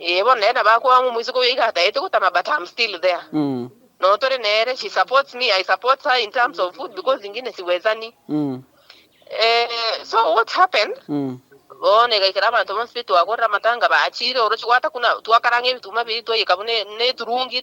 Ee, bono nere nabo akoa ng'o omoiseke oyo iga atagete gotama but am still there. Noo tore nere, she supports me, I support her in terms of food because inki nesibwesani. Ee, so what happened, bono igaikera abanto bonsi baria twagorera amatanga bachire oroche gwata kuna, twakaranga ebituma biria twaiyeka buna ne eturungi,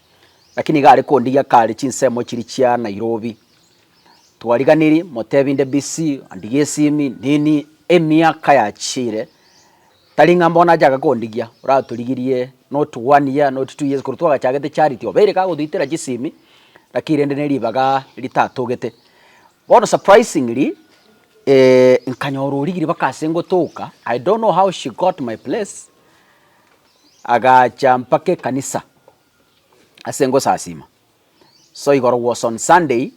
Naki nigo are kondigia kare chinsemo chiria chia Nairobi. Twariganiri, motebi inde busy, andigia esimi, nini, emiaka yachiire, tari ng'a mbono achake kondigia, oratorigirie not one year, not two years, korwa twagachagete charity, obeire kagotoitera chisimi, naki rende ne ribaga ritatogete. Bono surprisingly, nkanyora origiire mpaka ase ngotoka, I don't know how she got my place. Agaacha mpaka ekanisa ase ngosasiima. So igoro was on Sunday,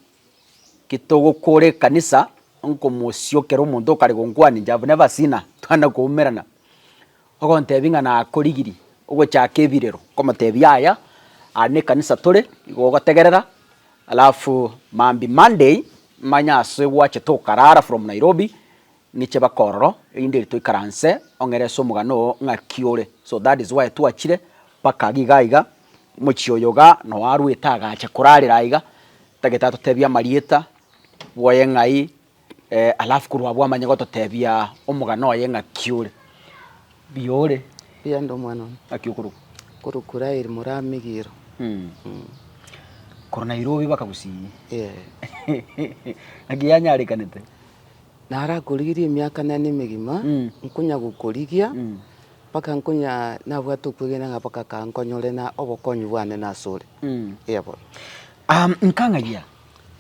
ki togokoora ekanisa, nkomosiokera omonto okare gonkwanincha, I've never seen her, twana koumerana, ogontebia ng'a nakorigirie ogochaka ebirero, nkomotebia yaya, aria nekanisa tore, nigo ogotegerera, alafu mambi Monday, manye ase gwachete okarara from Nairobi. Niche bakororo erinde eri toikaranse ong'ere ase omogano oo ng'aki ore so that is why twachire mpaka agi iga iga mochie oyo iga noe arwete agacha korarera aiga tagete atotebie amarieta bwoye ng'ai eh alafu korwa abwo amanye gototebia omogano oye ng'aki ore mbuya ore Mbuya inde omwana one. Ng'aki okorokwa? Okorokwa Rael Moramigiro. Korwa Nairobi mpaka Gusii. Ng'aki yanyarekanete? Narakorigirie emiaka nane emegima, nkonya gokorigia, mpaka nkonya nabwate okwegena ng'a mpaka kaa nkonyore na obokonyi bwane nasore. Eya bono. Am, nkang'ayia.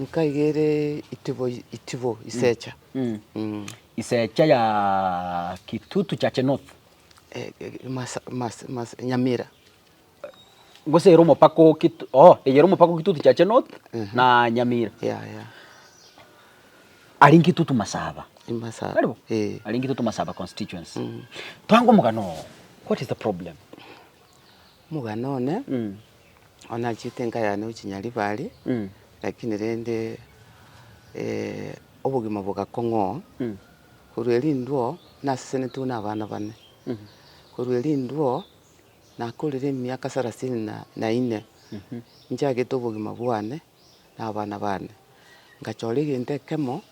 Nkaigere itibo, itibo isecha. Mm. Isecha ya Kitutu Chache North. Eh, eh, masa, masa, masa, Nyamira. gose ere omopaka o Kitu, oh, eyere omopaka o Kitutu Chache North na Nyamira. Yeah, yeah. Ari Nkitutu Masaba. Imasaba. Karibu. Eh. Ari Nkitutu Masaba constituency. Twange omogano oo. What is the problem? Omogano one, Mm. onachete enka yane gochia Nyaribari, Mm. lakini rende eh, obogima bogakong'oa. Mm. Korwa erindwo, nasesenetiwe na abana bane. Korwa erindwo, Nakorire emiaka sarasini na na ine, nchagete obogima bwane na abana bane. Ngachora egento ekemo,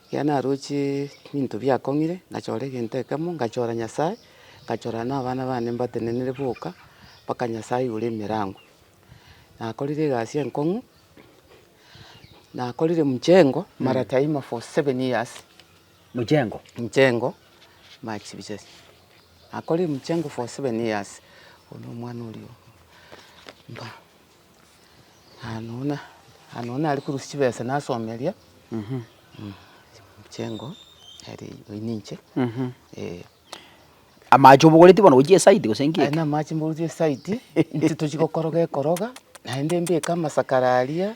ekiagera naroche binto biakong'ire, ngachora egento ekemo, ngachora Nyasae, ngachora na abana bane mbatenenere boka, mpaka Nyasae igoro emerango. Nakorire egasi enkong'u, nakorire mchengo mara taima for seven years. Mchengo. Mchengo, Max Bisazi. Akorire Mchengo for seven years, oyo no omwana oria oo. Mba, anona, anona aria korusia chibesa nasomeria, Mchengo, eri oyio ninche, eh. Amache obogoretie bono gochia eside gose nki eke? Aye namache mbogoretie eside, inche tochia gokoroga ekoroga, naende mbeke amasakara aria,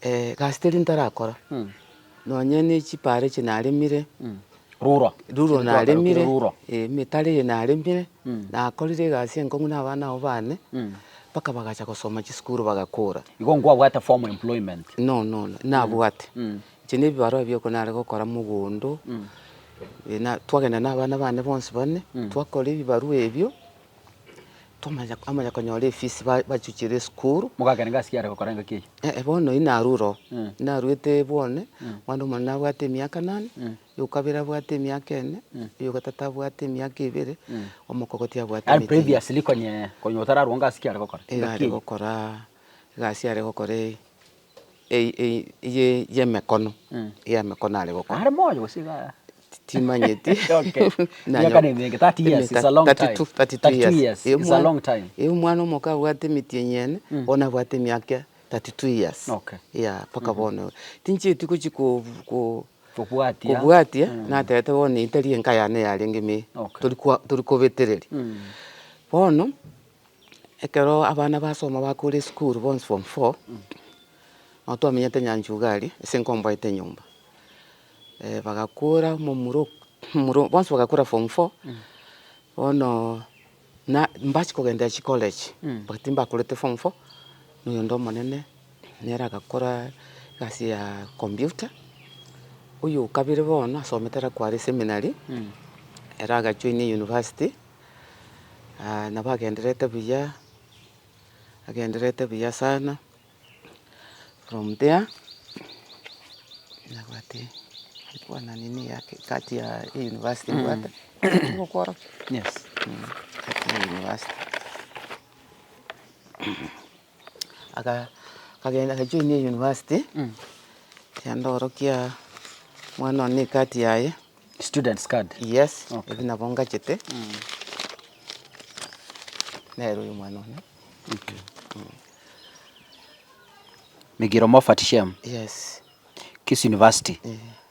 Egasi teria ntarakora, nonye ne chipara echi naremire, Ruro. ruro Ekero twagarukire naremire, ruro. eh, emetaro eye naremire, nakorire egasi enkong'u na abana abwo bane, mpaka bagacha gosoma chisukuru bagakura. Igo nkwabwate formal employment. No, no, no, nabwate. Inche na ebibarua ebio ekero nare gokora mogondo, eh, na twagenda na abana bane bonsi bane, twakora ebibarua ebio. Twamanya amanya konyora efisi ba- bachuchire esukuru, Mogakera ngasi kiare gokora engaki eyio. eh, bono oyio narure oo. Mm. Narwete bwane, omwana omonene nabwate emiaka nane, oyokabere abwate emiaka ene, oyogatato abwate emiaka ebere, omokogoti abwate Yaani emiaka ene. previously konye, konye otararwa ngasi kiare gokora. Iga Engaki are eyio. gokora egasi are gokora eye. y'emekono y'emekono are gokora. Are moyo gose iga? Timanyeti. Okay. Emiaka ne emenge, 30 years is a long time. 32, 32 years. 32 years is a long time. Eyi omwana omoke abwate emiti enyene, bono abwate emiaka 32 years. Okay. Yeah, mpaka bono. Tinchieti gochi ko- ko- Kobwatia. kobwatia, natebete bono eyi tari enka yane yarenge ime. Okay. Tori kwa- tori kobetereria. Bono. Ekero abana basoma bakure esukuru bonsi form four, nabo twamenyete Nyanchugari ase nkomboete nyomba. Bagakura momura ok- momura ok- bonsi bagakura form four, bono na mbachia kogenderia chicollege, but timbakurete form four, na oyonde omonene nere agakora egasi ya computer. Oyo okabere bono asomete ere akware seminary, ere agajoina university. nabo agendererete buya, agendererete buya sana, from there nabwate ngokwana nini yake kati ya university mbwate yes kati ya university. aka- akagenda agajoinia eyunivasiti, kende orokia omwana one na ecard yaye, Students card. yes, Okay. ebi nabo ngachete, nere oyo omwana one, Migiro Moffat Shem, yes. Kisii University.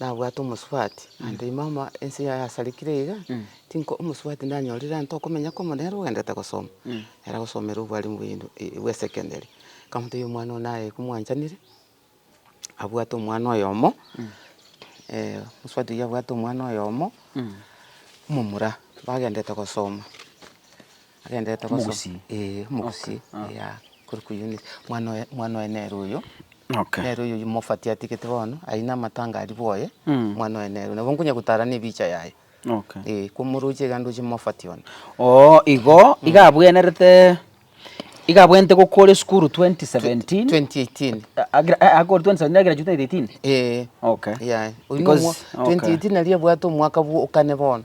nabwate omosubati, naende ime ama ense yaye yasarigire iga, tinko omosubati ndanyorire ante okomenya kwamo nere ogenderete gosoma, ere agosomera obwalimu bwa uni- i- bwa esecondary, nkamotebia omwana one aye komwanchaneire, abwate omwana oyomo mosubati oyio abwate omwana oyomo, omomura, bagenderete gosoma. Agenderete gosoma. Omogusii. Eeh, omogusii, Okay, ah. eeh, korwa kwa Eunice. Mwana oye, mwana oye nere oyo, Okay. nere oyo oywo mofati atigete bono, aine amatanga aria bwoye, Mm. mwana oye nere oyo. Nabo nkonya gotarana ebicha yaye, Okay. eeh, komoroche iga ndoche mofati one. Oo, igo, iga abwenerete, iga abwenerete goka ore esukuru 2017. 2018. A- agira- eh, akoru 2017 agira june 2018? Eeh. Okay. Yaya. Oyio Because- nomo- okay. 2018 nari abwate omwaka bwo okane bono.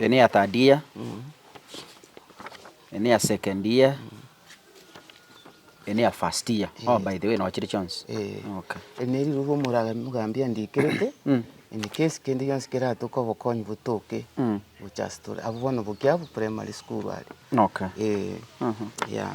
Ene ya third year, ene ya second year, ene ya first year. Oh, by the way, nochire chionsi. Eh, Okay. ene eriruga omora- omogambi andikerete Mm. ene kesi kende gionsi keratoke obokonyi botoke Mm. gochastora abwo bono bokia abwo primary school are Okay. Eh, Mhm. yeah.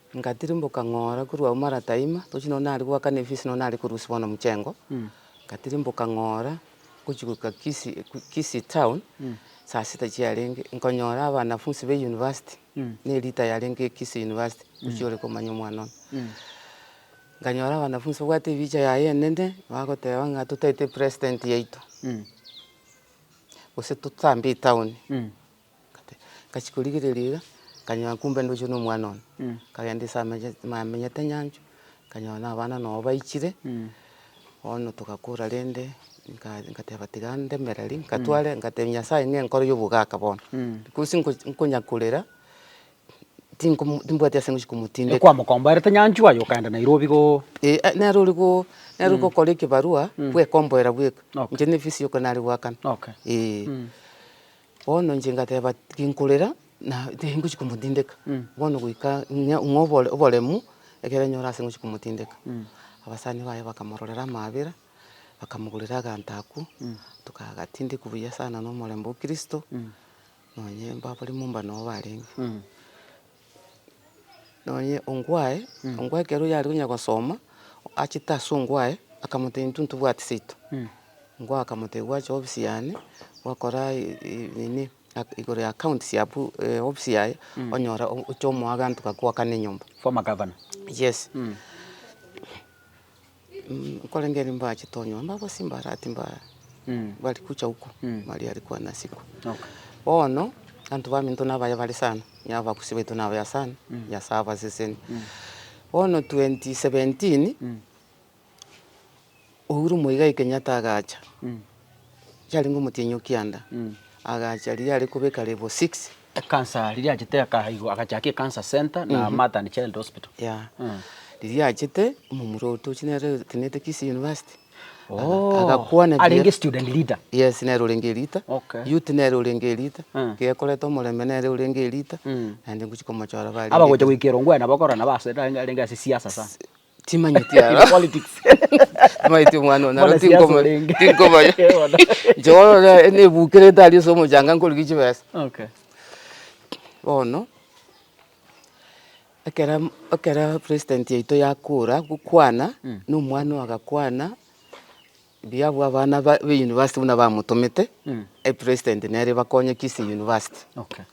Nkatirimboka ng'ora korwa ao marataima, tochi nonya nare goakana efisi nonya nare korusia bono mochengo, nkatirimboka ng'ora gochia goika Kisii Kisii town, saa sita chiarenge, nkonyora abanafunsi ba eyunivasiti, na erita yarenge Kisii University, tochi ore komanya omwana one. Nkanyora abanafunsi babwate ebicha yaye enene, bagoteba ng'a totaete president yaito, gose totambe etown. Ngachia korigereria iga, nkanyoa kumbe ndochire na omwana one, nkagenda ase amenyete nyanchwa, nkanyoa na abana nabo baichire, bono togakora rende, nka- nkateba tiga ndemereri, nkatware nkatebia Nyasae ng'a nkore obogaka bono, because nko- nkonya korera, tinkomo timbwati ase ngochia komotindeka. Ekwamokomboerete nyanchwa aye okaenda Nairobi go. Eeh ah nere ori go nere ori gokora ekebarua, bwekomboera bweka, inche ne efisi yoka nare goakana, Okay. eeh. Bono inche ngateba, Tinkorera, na tingochia komotindeka, bono goika ng'a obore oboremu ekero enyora ase ngochia komotindeka. Abasani baye bakamororera amaabera, bakamogorera aganto akwo, tokagatindekwa buya sana na omorembe o kristo, nonye mbabare momba noo barenge. nonye ongwae, ongwae ekero oyarenge onya gosoma, achete ase ongwae, akamotebia intwe ntobwati seito, ongwae akamotebia gwacha ofisi yane, gwakora nini igoro ya account sia pu- eh ofisi yaye, onyore ocha omoa aganto ga koakana enyomba. Former governor. Yes. Nkorengeri mbache tonywe mbabosie mbarati mba- bari kucha huko maria ari kwana siku. Bono abanto baminto na abaye bare sana, onye abagusi baito na abaye sana, Nyasaye abaseseni. Bono twenty seventeen, Uhuru Muigai Kenyatta agacha. yarenge omotienyi o kianda, agacha riria are kobeka level six. Ekansa riria achete akaha igoro agachaka ekansa centre na mother and child hospital. Yeah. Riria achete, omomura ogo tochi nere otenenete Kisii University. Ooh. Agakwana buya. Arenge student leader. Yes, nere orenge elita. Okay. Youth nere orenge elita. Mm. Gekorete omorembe nere orenge elita. Mm. Naende ngochia komochora bare elita. Abagocha goika erongo aye nabo okorora nabo ase arenge ase siasa sana. Timanyeti aro. Politics. Timanyeti omwana one aro tinkoma tinkoma. Joyo ne ne bukere tari so mojanga nkori gichi besa. Okay. Bono ekera ekera president yaito yakora gokwana no mwana agakwana. Mbuya abwo abana ba university buna bamotomete e president nere ebakonye kisii university. Okay.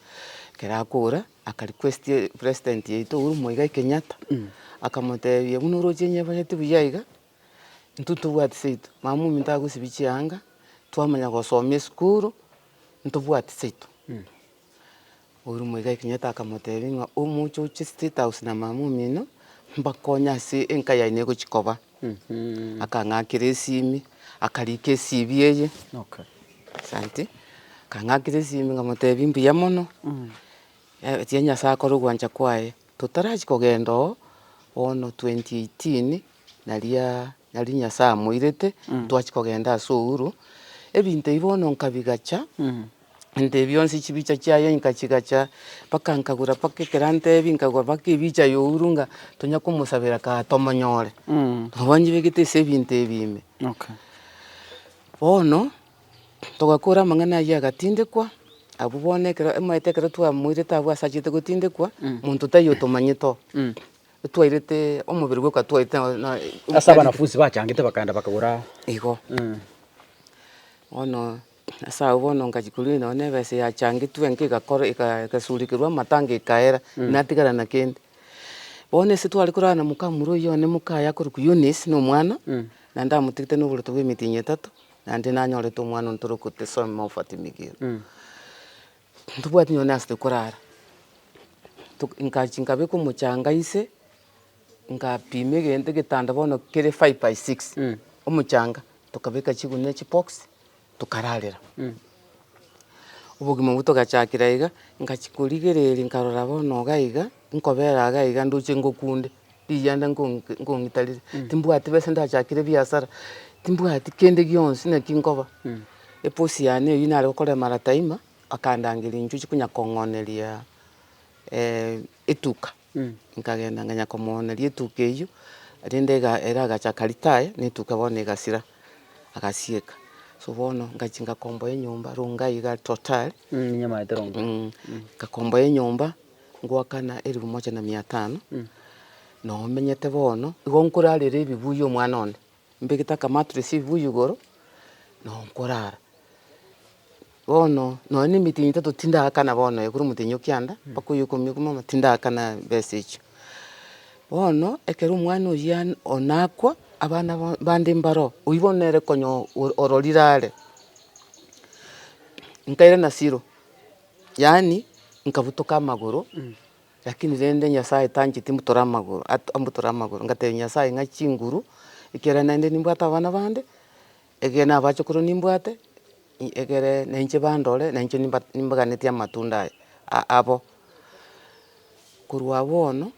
Ekero akora akarequest president yaito Uhuru Muigai Kenyatta akamotebia buna oroche nyebanyete buya iga intwe ntobwati seito mama ominto agosibie chianga twamanya gosoma esukuru ntobwati seito. Omoika o Kenyatta akamotebia ng'a omoche oche state house na mama omino mbakonye ase enka yaye negochia koba. Akang'akera esimi, akarika eCV eye, asanti, akang'akera esimi nkamotebia mbuya mono, etia Nyasaye akore ogwancha kwaye. Totarachia kogenda oo, bono twenty eighteen naria. Nari Nyasae amoirete, ntwachi kogenda ase ouru. Ebinto ebi bono nkabigacha, ebinto ebi bionsi chibicha chiaye nkachigacha, mpaka nkagura mpaka ekero antebi, nkagura mpaka ebicha ya ouru ng'a tonya komosabera kaa tomonyore. Nabo njibegete ase ebinto ebi ime. Bono, togakora amang'ana ayio agatindekwa, abwo bono ekero, omanyete ekero twamoirete abwo asachete gotindekwa, monto taiyo otomanyete oo. Etwairete omobere gwe okatwairete na- na- Ase abanafunsi bachangete bakaenda bakagora. Igo. Eeh. Bono ase agwo bono ngachia korwa nonye na ebesa yachangetwe enka egakora eka egasurikerwa amatanga ekaera natigara na kende. Bono ase tware korara na mokamura oyio one moka aye akorokwa Eunice na omwana, naende amotigete na oboroto bwa emitinyi etato, naende nanyorete omwana oyo tore kotesoma Mofat Migiro. Ntobwati nonye ase tokorara, nkabeka omochanga inse, nkapima egento egetanda bono kere five by six omochanga, tokabeka chigunia chibox tokararera. Obogima obwo togachakera iga, nkachia korigereria nkarora bono iga iga, nkobera iga iga ndoche ngokunde. Rigianda nkong'itarire, timbwati besa ndachakire ebiasara, timbwati kende gionsi naki nkoba. Eboss yane eyio nare gokora emarata ima, akandangeria inchuchi konya kong'oneria etuka. Nkagenda nkanya komwoneria etuka eyio, rende ega- ere agachaka retire, ne etuka bono egasira, agasieka. So bono ngachia ngakomboa enyomba, Rongai iga totally, Ninyamaete Rongai. ngakomboa enyomba. Ngoakana elifu moja na mia tano, nomenyete bono, igo nkorarera ebibuyu omwana one, mbegete akamattress ebibuyu igoro, nabo nkorara. Bono nonya na emetenyi etato tindaakana bono aye kore omotenyi o kianda, mpaka oyo ikomi ikomi bono tindaakana besa echio. Bono ekero omwana oyio an- o nakwa, abana ba- bande mbaro, oyio bono nere konya o- ororire are, nkairana zero. Yaani nkabutoka amagoro, lakini rende Nyasaye tancheti mbutore amagoro, at- mbutore amagoro, ngatebia Nyasaye ng'a chinguru, ekero naende nimbwate abana bande, ekero na abachokoro nimbwate, i- ekere na inche bandore, na inche nimba- nimbaganetie amatunda aya a- abo. Korwa agwo bono,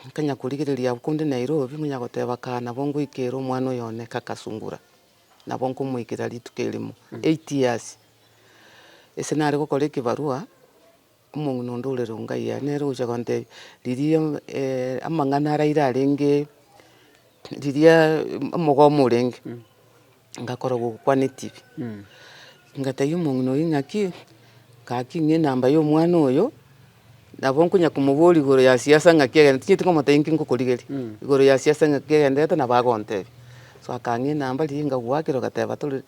nkanya korigereria abwo korende Nairobi, nkonya goteba kaa nabo ngoika ere omwana oyo one kaka sungura. nabo nkomoikera rituko erimo, eight years, ase nare gokora ekebarua, omong'ina onde ore Rongai aye nere ogocha kontebia, riria amang'ana araire arenge riria omogomo orenge, ngakora gokwana etibi, ngatebia omong'ina oyio ng'aki, ngaki ng'a enamba ya omwana oyo. Nabo nkonya komoboria igoro ya siasa ng'aki egenderete, tinyeti komotebia inki ngokorigeria, igoro ya siasa ng'aki egenderete nabo agontebia. So akang'ina namba riria ngagoakera ogateba tore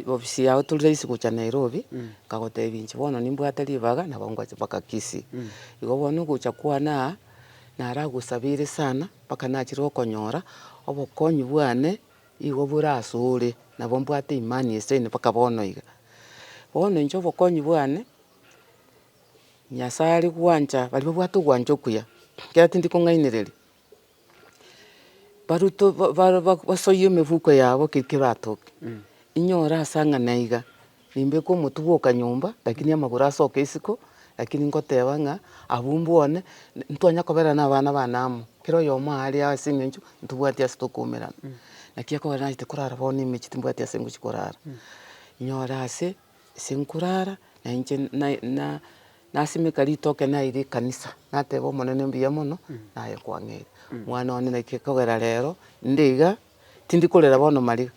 ofisi yago tore raisi gocha Nairobi, nkagotebia inche bono nimbwate ribaga nabo ngwache mpaka Kisii. Igo bono ogocha kwane aa, naragosabeire sana mpaka nachire okonyora obokonyi bwane igo bore asore, nabo mbwate imani esaine mpaka bono iga. Bono inche obokonyi bwane. Nyasae aria gwancha baria babwate ogwancha okuya, ekiagera tindi kong'ainereria, barutwe basoyie emefuko yabo keri ekero batoke, inyore ase ang'a na iga, nimbeke omotugi oka nyomba, lakini amagoro asoke isiko, lakini ngoteba ng'a abwo mbwane, ntwanya koberana na abana bane amo, kera oyomo aare aa ase eng'encho ntobwati ase tokoumerana, naki ekogera nache korara bono emechie timbwati ase ngochia korara, inyore ase. Ase nkorara na inche nasimeka ritoke naira ekanisa, nateba omonene mbuya mono naye kwang'eire. Mwana one naki ekogera rero inde iga, tindi korera bono mariga,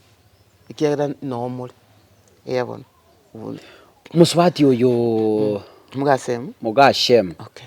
ekiagera noo more, eeh bono. Mosubati oyooo. Mogasem. Mogasem. Okay.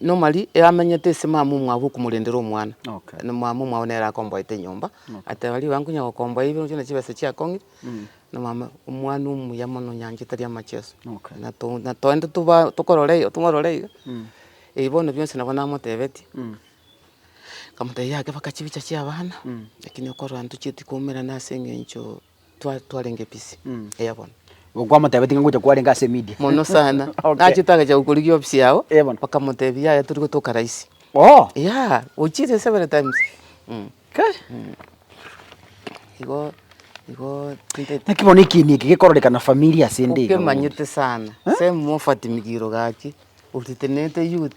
Normally eyamenyete ase mama omwabo okomorendera omwana, na mama omwabo nere akomboete enyomba, ateba ribaga nkonya gokomboa ebi bionsi buna chibesa chiakong'ire, na mama omwana omuya mono onyanchete tari amacheso, na to na toende toba tokorora iga tong'orore iga, ebi bono bionsi nabo namotebetie, nkamotebia yake mpaka chibicha chia abana, lakini okorora intwe chitukomerana ase eng'encho. twa- twarenge ebisi eya bono. Kwamotebetie ng'a ngocha kwarenge ase emedia. Mono sana. Okay. Nache twagacha gokorigia ofisi yao, Eh, bono. bakamotebia yaya tori gotoka raisi. Oo. Yeah, gochiria several times. Mm. Kai. Igo, igo tinteti. Naki bono ekiini eke gekororeka na familia ase ende iga bono. Okemanyete sana. Same mofati migiro gaki. Oritenete youth.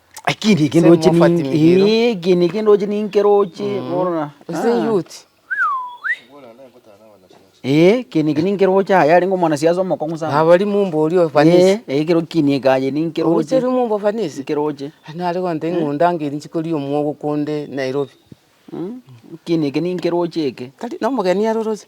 Eki niki Same ndoche mofati ninki. migiro. Eki niki ndoche ninki roche. Morora. Ase Ah. youth. Eh, eki niki ninki roche aye arenge omwanasiasa omokong'u sana. Nabori mumba oria ofanisi. Eh, eh, kero kini ekaye ninki roche. Ogocheri mumba ofanisi. Ninki roche. Nare goteba ing'unda ngeri chikoria omwogo konde Nairobi. Eki niki ninki roche eke. Tari nomogeni aro roche.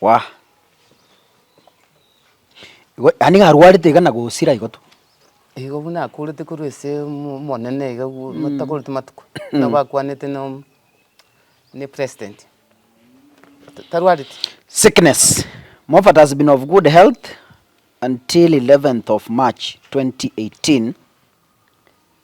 Wah! Igo yaani iga arwarete iga na gosira igo tu. Igo buna akoorete korwa ase omo- omonene iga gu motakoreti matuko, buna bakwanete na om- na epresident, ta- tarwareti. Sickness, Moffat has been of good health until 11th of March 2018.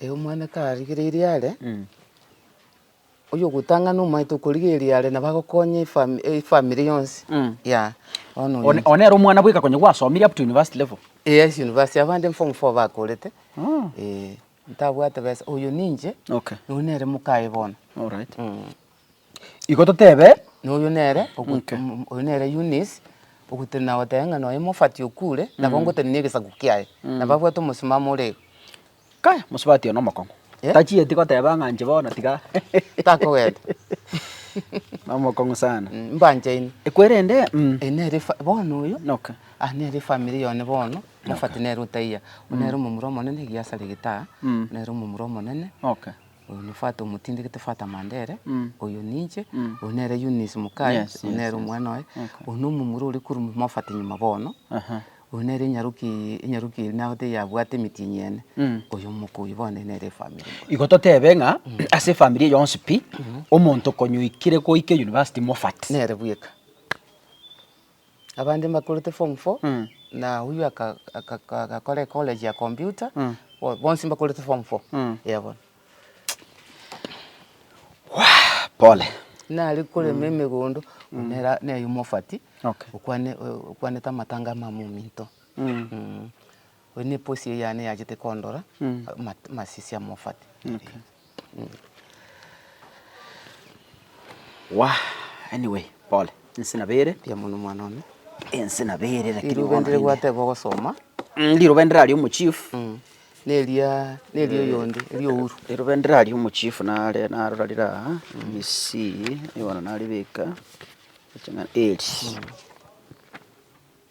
Ee, omwana karigereirie are, oyogotang'ana omanyete okorigereria are nabo agokonya efam- efamiri yonsi, Mm. yea, bono One one nere omwana bweka konya gwasomire up to university level. yes university abande form four bakorete, Oh. ee, ntabwate besa, oyo ninche, Okay. noyo nere mokaye bono. Alright. Mm. Igo totebe, na oyio nere ogote mm oyio nere Eunice, ogote na goteba ng'a nonya omofati okure, nabo ngote na egesaku kiaye, nabo abwate omosimamo ore iga. Kai, mosubati one omokong'u, Eh? tachieti goteba ng'a inche bono tiga Takogenda. na omokong'u sana. Mm, mbanchaine. Ekwerende mm. Eye nere efa bono oyio, Okay. aa nere efamiri yane bono, mofati nere otaiyo, oyio nere omomura omonene egiasara egetaa, nere omomura omonene. Okay. Oyo nefata omotindi gete fata Mandere, oyo ninche, oyo nere Eunice Mukai, Yes, oyo yes, nere yes. omwana oye, Okay. oyo nomomura ore korwa Mofate nyuma bono, Aha. oyo nere enyaroki enyaroki eri nabote eyabwate emitinyi ene, Mm. oyo omokuyi bono nere efamiri mbuya. Igo totebe ng'a ase efamiri eye yonsi pi, omonto konya oikire goika university Mofate. Nere bweka. Abande mbakorete form four, na oyio aka- aka- aka- agakora ecollege ya computer, bo- bonsi mbakorete form four, eya bono. Pole. Nare korema emegondo, nera- neye omofati, Okay. okwane- o- okwanete amatanga amamo ominto. Mm. Oyo neposi eyane yachete kondora amasisi amofate naende. Wa anyway pole inse nabere. Mbuya mono mwana one. Inse nabere lakini bono. Riroba ndire gwateba ogosoma. Riroba ndire aria omochief. Neria neria oyonde eria Uhuru. Riroba ndire aria omochief nare narora rire aa misi bono naribeka eri.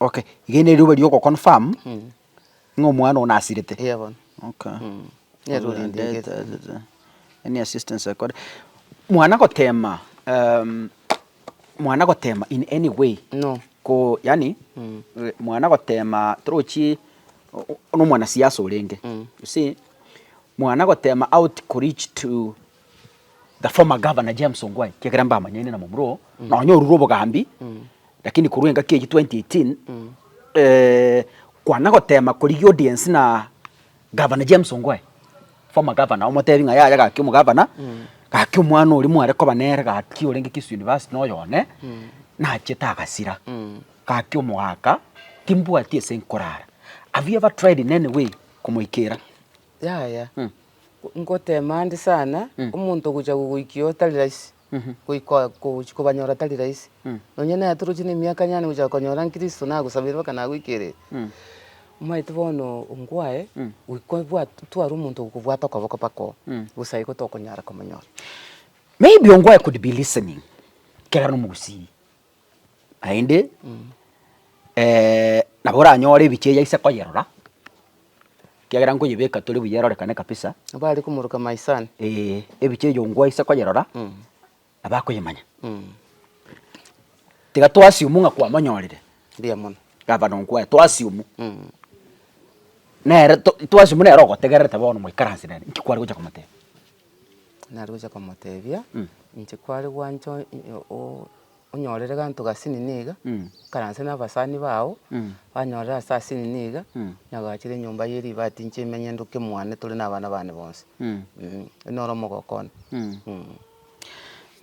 Okay, ege neriroba riogo confirm ng'a omwana oo nasirete. Eeh bono. Okay. Mm. Nero Mother and orindegete. death, da, da, da. Any assistance I could- Mwana gotema um, mwana gotema in any way No. ko yaani Mm. eh, mwana gotema torochi o- o- nomwanasiasa orenge Mm. you see mwana gotema out koreach to The former governor James Ongwae, kiagera mbamanyaine na momura oo, nonya orure obogambi, lakini korwa engaki eyio 2018, eh, kwana gotema korigia audience na Governor James Ongwae, former governor, omotebi ng'a yaya gaki omogavana, gaki omwana oria mware koba nere gaki orenge Kisii University na oyo one, nachete agasira, gaki omogaaka, timbwati ase nkorara. Have you ever tried in any way komoikera? Yaya, ngoteema nde sana, omonto ogochia gogoikia oo tari rahisi, goika gochia kobanyora tari rahisi. Nonya naye atorochie na emiaka yane gochia konyora nkristo nagosabeire mpaka nagoikereri. Omanyete bono nkwaye, goika obwate, tware omonto okobwata okoboko mpaka oo, gose aye igo tokonyara komonyora. Maybe nkwaye could be listening, ekero are omogusii. Naende nabo oranyore ebicha eria aise koyerora, ekiagera nkoyebeka tore buya erorekane kabisa. Nabo are komoroka my son. Ee, ebicha eyio ngwo aise koyerora, nabo akoyemanya. Tiga to assume ng'a kwamonyorire. Mbuya mono. Gava no nkwaye, to assume. Nere to assume nere ogotegererete bono moikaranse nere, inki kware gocha komotebia. Nare gochia komotebia, inche kware gwancha o- onyorere gento gasini niga, ikaranse na abasani bao, banyorere ase asini niga, nyagachere enyomba ye ribati inche emenye ndoke mwane tore na abana bane bonsi, oyio noro omogoko one.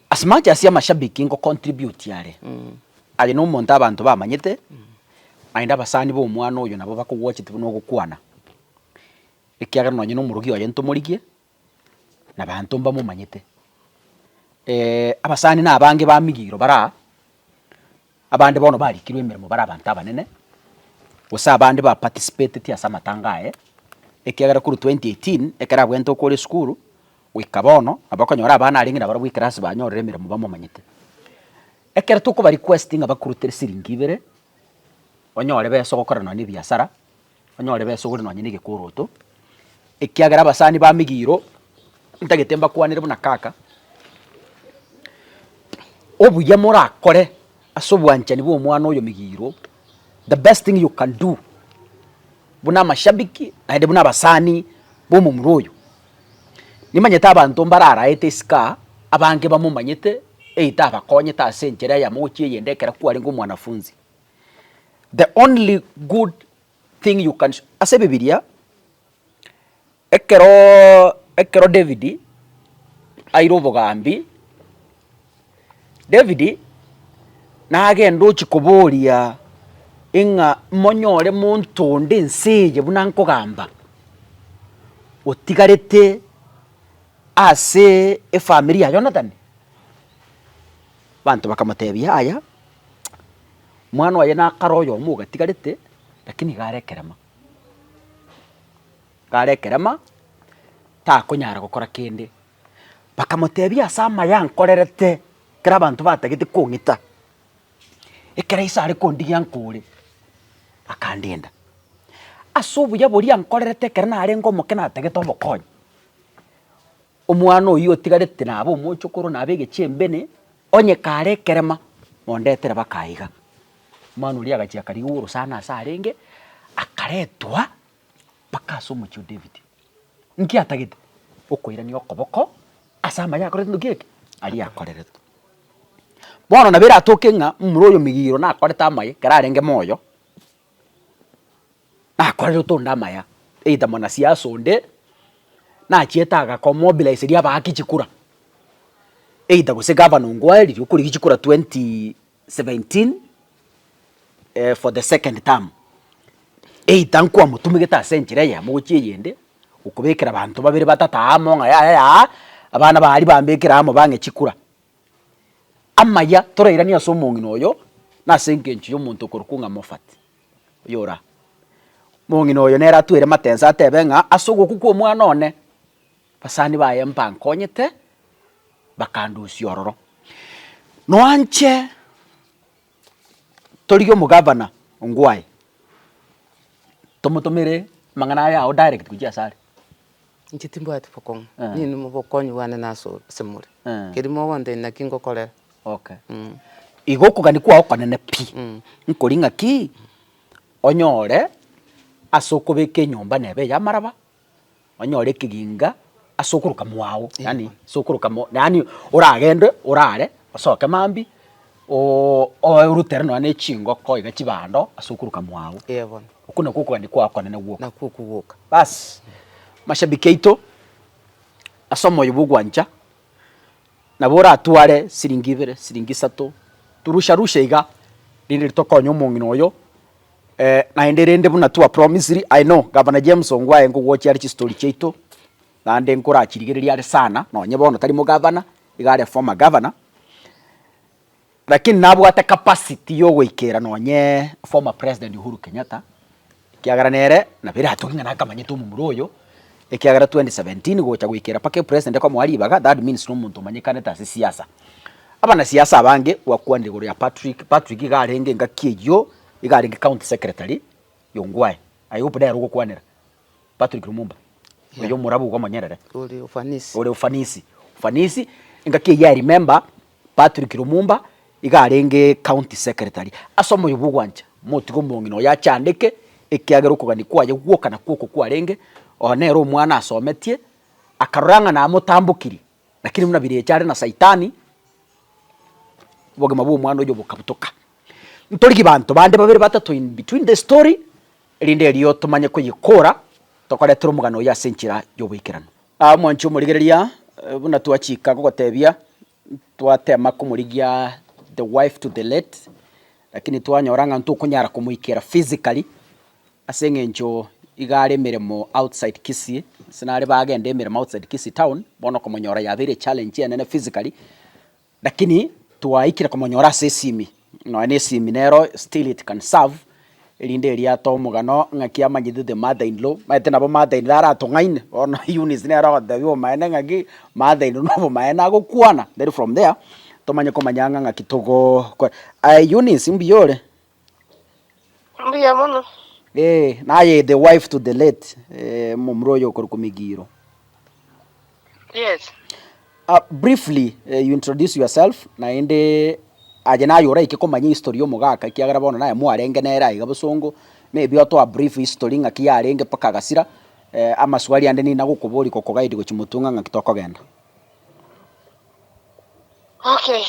As much as amashabiki nko contribute are, aye na omonto abanto bamanyete, naende abasani ba omwana oyo nabo bakogwachete buna ogokwana, ekiagera nonye na omorogi oye ntomorigie. nabaanto mbamomanyete. Abasani nabange bamigiro bara aa, abande bono barikirwe emeremo bare abanto abanene, gose abande ba participatetie ase amatanga aye, ekiagera korwa twenty eighteen ekero abwenerete okore esukuru goika bono, nabo okonyora abana arenge nabarabwo ekerasi banyorire emeremo bamomanyete. Ekero tokobarikwesti ng'a bakurutere siringi ibere, onyore besa ogokorana nonye nebiasara. Onyore besogore nonye negekoroto, ekiagera abasani bamigiro ntagete mbakwanere buna kaka. Obuya morakore ase obwanchani bwa omwana oyo migiro, the best thing you can do, buna amashabiki naende buna abasani ba omomura oyo, nimanyete abanto mbare araete isiko abange bamomanyete, either abakonyete ase enchera eyemo gochia eyende ekero kwarenge omwanafunzi. The only good thing you can show, ase ebibiria, ekero ekero David aire obogambi, David nagende ochia koboria ing'a monyore monto onde ense eye buna nkogamba, otigarete ase efamiri ya Jonathan? Abanto bakamotebia yaya. Mwana oye nakare oyomo ogatigarete, rakini iga are ekerema, iga are ekerema, takonyara gokora kende. Bakamotebia ase amaya nkorerete, ekero abanto batagete kong'ita, ekero Yeso are kondigia nkore, akandinda. Ase obuya boria nkorerete ekero narenge omoke natagete omokonye. Omwana oyio otigarete nabe omochokoro nabe egechembene, onye kare ekerema, mondetere baka aiga. Omwana oria agachia akarigia orosana ase arenge, akaretwa baka ase omochie o David. Inki atagete? Okoirania okoboko ase amaya akorete ndoki eke? Aria akoreretwe. Bono nabo eratoke ng'a momura oyomegigiro nakorete amaye, ekero arenge moyo. Nakorerete onde amaya, either mwanasiasa onde nachiete agako mobilize ria abaake chikura, either gose gavana Ongwae riria okorigia chikura twenty seventeen for the second term, either nkwamotumegete ase enchera eyemo gochia eyende, okobekera abanto babere batato amo ng'a yaya aa, abana aba aria bambekere amo bang'e chikura. Amaya torairanie ase omong'ina oyo, nase engencho ya omonto okorokwa ng'a Moffat. Oyora mong'ina oyo nere atwere matensa atebe ng'a ase ogokwa kw'omwana one basani baye mbankonyete bakandusia ororo. Noanche torigie omogavana Ongwae tomotomere amang'ana aya ao direct gochia asare. Inche timbwati bokong'u, nini obokonyi bwane nase asemore, keria mogonto ime naki ngokorera. Okay. Igo okogania kwao okonene pi, nkoria ng'aki onyore ase okobeka enyomba neba eya amaraba, onyore ekeginga ase okoroka mwago, yaani ase okoroka yaani oragende orare, osoke mambia, Oo, orutere nonya ne chingoko iga chibando ase okuruka mwao. Ee bono. Oko nakwo okogania kwao okonene gwoka. Nakwo okwo gwoka. Bas, mashabiki aito, ase omoyo bw'ogwancha, nabo oratware siringi ibere, siringi isato, torusha rusha iga, rinde ritokonye omong'ina oyo, naende rende buna twa promisiri, I know, Gavana James Ongwae ngogwochia are chistori chiaito. naende nkorachirigereria are sana, nonye bono tari mogavana, iga are former governor, lakini nabwate capacity yogoikera nonye former president Uhuru Kenyatta, ekiagera nere nabo eratokie ng'a nakamanyete omomura oyo, ekiagera twenty seventeen gocha goikera mpaka epresident ekomoa ribaga, that means nomonto omanyekanete ase siasa. Abanasiasa abange gwakwanire igoro ya Patrick, Patrick iga arenge engaki eyio, iga arenge county secretary ya Ongwae, I hope nere ogokwanera. Patrick Lumumba Yeah. oyo omorabu iga omonyerere Ore ufanisi. ore ufanisi ufanisi engaki eye I remember Patrick Lumumba iga arenge county secretary ase omoyo bwa ogwancha motiga omong'ina oyo achandeke ekiagera okogania kwaye gwoka na kwoko kwarenge oyo nere omwana asometie akarora ng'a namotambokirie Lakini buna birecha are na Saitani, obogima bw'omwana oyio bokabutoka. Ntorigie banto bande babere batato in between the story, erinde erio tomanye koyekora tokoretera omogano oyo ase enchera y'oboikeranu. Aa mwanche omorigereria, buna twachika gogotebia, twatema komorigia the wife to the late, lakini twanyora ng'a ntokonyara komoikera physically, Ase engencho iga are emeremo outside Kisii, ase nare bagende emeremo outside Kisii town, bono okomonyora yabeire challenge enene physically, lakini twaikire komonyora ase esimi, nonya na esimi nero still it can serve, erinde eria atoe omogano ng'aki amanyete the mother in law, omanyete nabo mother in law aratong'aine, bono Eunice nere ogotebia obomaene ng'aki mother in law na obomaene agokwana, then from there tomanye komanya ng'a ng'aki togokora. Aye Eunice mbuya ore? Mbuya mono. Eh, naye the wife to the late eh, momura oyo okorokwa Migiro. Yes. Uh, briefly uh, you introduce yourself naende aje naye oraike komanya history omogaka ekiagera bono naye mwarenge nere aiga bosongo maybe otoa brief history ng'aki yarenge mpaka agasira eh, amaswali ande nina gokobori gokogaidi gochi motung'a ng'aki tokogenda Okay.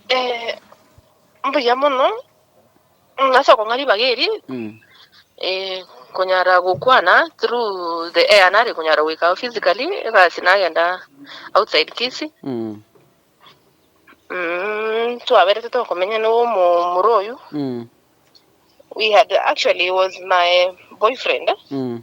Eh, Mbuya mono, mm, ase okong'a ribaga eri, Mm. eh, konyara gokwana through the air nare konyara goika ao physically, egasi nagenda outside Kisii, Mm. mm, twaberete tokomenya na omomura oyo, Mm. we had, actually he was my boyfriend, Mm.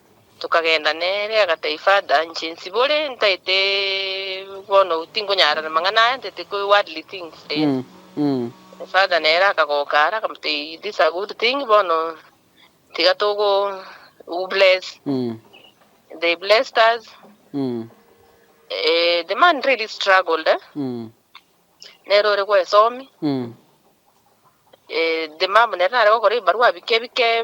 Tokagenda nere, agatebia, Father, inche nsibore, ntaete bono, tinkonyara namang'ana aya, ntaete kwe worldly things eh. Father nere akagoka are, akamotebia, this a good thing, bono tiga togo u bless. They blessed us. Eh, the man really struggled eh, nere ore gwesomi. Eh, the mum nere nare gokora ebibarua bike bike,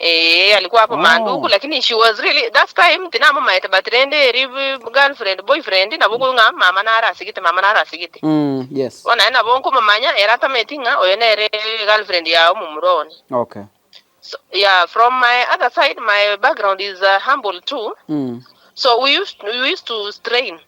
Eeh alikuwa hapo mandugu Oh. lakini she was really that time tinamumaete but rende eri b- girlfriend boyfriend nabo okoigwa ng'a mama nare asegete mama nare asegete Mm, yes. bono aye nabo nkomomanya ere atameti ng'a oyo nere girlfriend ya omomura one Okay. so, yeah from my other side my background is uh, humble too Mm. so we used, we used to strain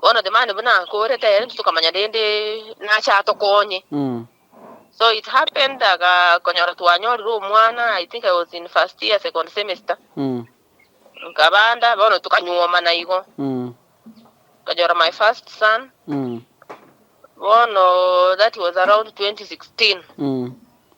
Bono the man buna akorete ere tokamanya rende nache atokonye. Mm. So it happened agakonyora twanyorire omwana, I think I was in first year, second semester. Mm. Nkabanda bono tukanyuomana igo. Mm. Nkanyora my first son. Mm. Bono that was around 2016. Mm.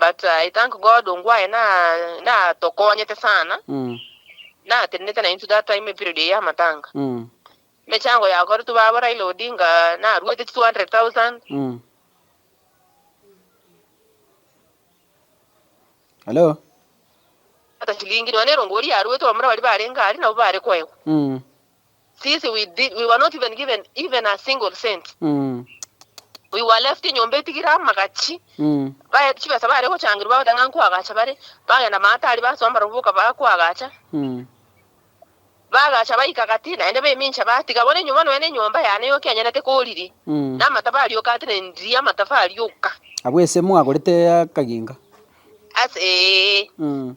But I thank God ongwaye na natokonyete sana Mm. natenenete na intwe that time period eye y'amatanga Mm. emechango yakoretwe baba Raila Odinga naruete chi 200,000 Mm. Hello. ata chilingi nonya erongo oria yaruete abamura baria barenge aria nabo bare koegwa Mm. Sisi we did we were not even given even a single cent. Mm. We were left enyomba etigire amagachi. Mm. Baye chibesa bare gochangirwa bagoteba ng'a nkwagacha bare. Bagenda maatari basoma barabwo boka bakwagacha. Mm. Bagacha baika gati naende baimincha batiga. Bono enyomba nonya na enyomba yane yoka enyanete koriri. Mm. Na amatafari yoka ate ne ndiri amatafari yoka. Abwo ase mwagorete akaginga. Ase ee. Mm.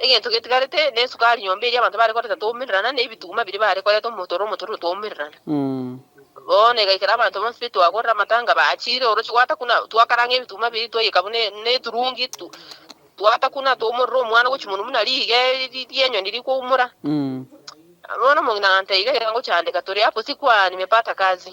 Egento getigarete nesukari nyomba eria abanto bare koreta twaumererana, na ebituma biria bare koreta omotoro omotororo twaumererana. Bono egaikera abanto bonsi be twagorera amatanga bachire oroche gwatakuna, twakaranga ebituma biria twayeka buna neturungi, gwatakuna twaumorera omwana gochia monwe buna riige rienyoni rikoumora. Bono omong'ina agantebia, Iga iga ngochiandeka, tore apo sikwa nimepata kazi.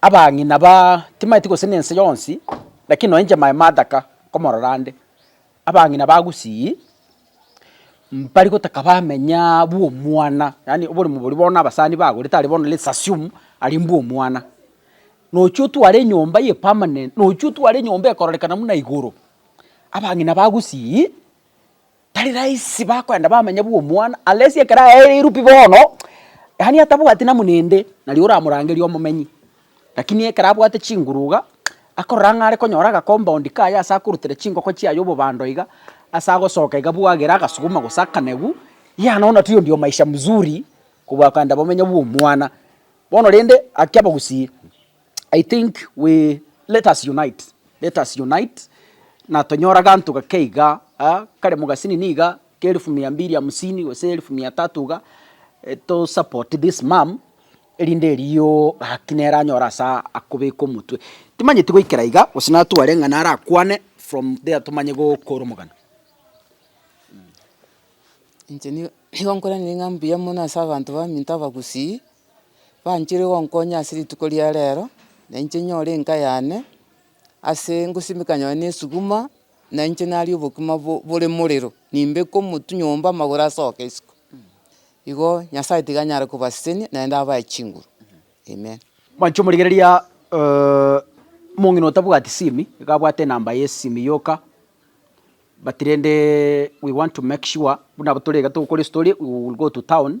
Abang'ina baa timaeti gose nense yonsi, lakini nonya inche my madaka nkomorora ande, abang'ina ba Gusii mbari gotaka bamenya bwomwana, yaani oborimo boria bono abasani bagorete aria bono let's assume aria mbwomwana. Nochia otware enyomba eye permanent, nochia otware enyomba ekororekana buna igoro, abang'ina ba Gusii Tari rahisi bakoenda bamanya bwa omwana, unless ekero aereirwe pi bono, yaani atabwati namonende, naria oramorangeria omomenyi. Lakini ekero abwate chinguru iga, akorora ng'a are konyora aga compound kaye ase akorutera chingoko chiaye obobando iga, ase agosoka iga bwagere agasuguma gose akanegu, yea nonya tiyo ndio maisha mzuri, kobua koenda bomenya bwa omwana. Bono rende, akia abagusii. I think we let us unite let us unite na tonyore aganto gake iga aa kare mogasini niga ke elfu mia mbili hamsini gose elfu mia tatu iga to support this mum erinde erio gaki nere anyore asa akobeka omotwe. Timanyeti goikera iga gose natware ng'a nare akwane from there tomanye gokora omogano mmh. Inche nigo nigo nkoranire ng'a mbuya mono ase abanto baminto abagusii. banchire gonkonya ase rituko ria rero, na inche nyore enka yane, ase ngosimeka nonye na esuguma, na inche naria obokima bo- bore morero, nimbeke omotwe nyomba amagoro asoke isiko. Igo Nyasaye tiga anyare kobasesenia naende abae chinguru, amen. Mwanche omorigereria omong'ina otabwati simi, iga abwate enamba yesimi yoka, but rende we want to make sure, buna abwo tore iga togokora estory, we will go to town,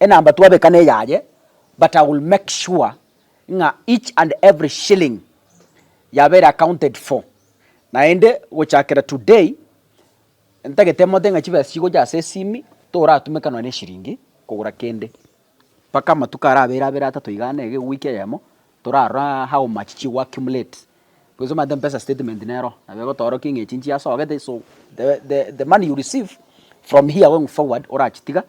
Enamba twabeka neyaye but I will make sure ng'a each and every shilling yabere accounted for. Naende gochakera today ntagete mote ng'a chibesa chigocha ase esimi toratumeka nonya neshiringi kogora kende mpaka amatuko arabere abere atato igaa nege ewiki eyemo. Torarora how much chigo accumulate because omanyete mpesa statement nero nabo egotoorokia ng'a echi nchiasogete so the the the money you receive from here going forward orachitiga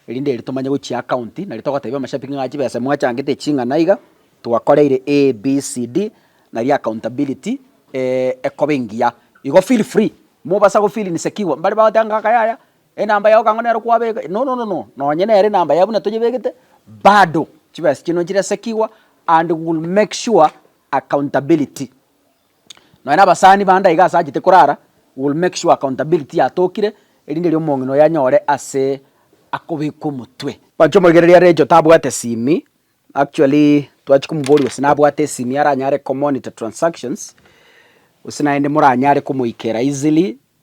erinde erio tomanye gochia account nari togotebia omochapigi ng'a chibesa mwachangete ching'ana iga twakoreire ABCD nari accountability ekoba engiya igo feel free mobasa go feel insecure mbari bagoteba ng'a aka yaya. Enamba yao kang'o nero kwabeka? No, no, no, no, nonye nere enamba yao buna toyebegete, bado chibesa chiaino nchiresekigwa and we will make sure accountability. Nonye na abasani bande iga asachete korara, we will make sure accountability yatokire, erinde riria omong'ina oyo anyore ase akobekwa omotwe. Mwancha omoregereria are Recho tabwate esimi, actually twachia komoboria gose nabwate esimi aranyare komonitor transactions, gose naende moranyare komoikera easily.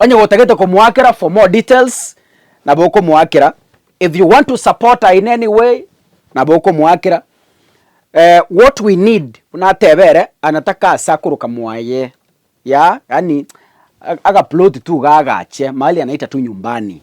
Onye gotagete komoakera for more details nabo okomoakera, if you want to support her in any way nabo okomoakera, eh, what we need buna atebe ere anataka ase akoroka mwaye ya yaani a- agaploti tu iga agache mahali anaita tu nyumbani.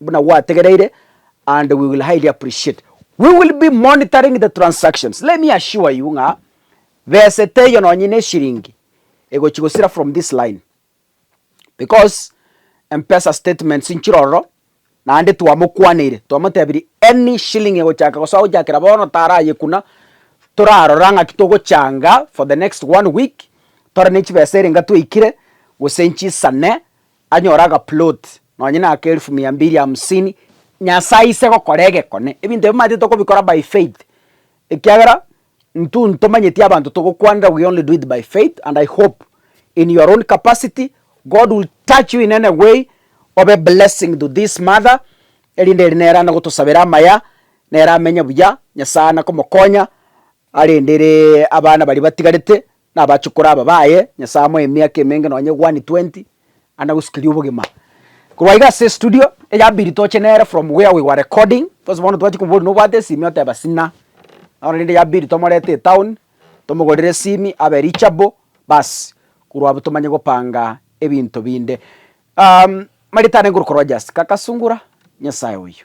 Buna gwategereire, and we will highly appreciate. We will be monitoring the transactions. Let me assure you ng'a bese teiyo nonye ne eshiringi egochi gosira from this line because M-pesa statements nchire ororo naende twamokwaneire twamotebirie any shilling egochaka gosoa gochakera bono tarayekuna torarora ng'aki togochanga for the next one week tore ne chibesa erenge twaikire gose nchisane Anyore agaplot nonye na aka elfu mia mbili hamsini, Nyasae aise gokora egekone. Ebinto ebio manyete tokobikora by faith, ekiagera intwe ntomanyeti abanto togokwanera we only do it by faith and I hope in your own capacity God will touch you in any way obe blessing to this mother erinde ere nere anagotosabera amaya nere amenye buya Nyasae anakomokonya Arendere abana baria batigarete, nabachokora aba baye, Nyasaye amoe emiaka emenge nonye one twenty, anagosukerie obogima. Korwa iga ase estudio, eya piri toche nere from where we were recording, because bono tobwati komboria nobwate esimi oteba sina, bono rende eya piri tomorete etown, tomogorere esimi abe reachable, baas, korwa abwo tomanye gopanga ebinto binde. Marita nengokora just kaka sungura, Nyasaye oyo.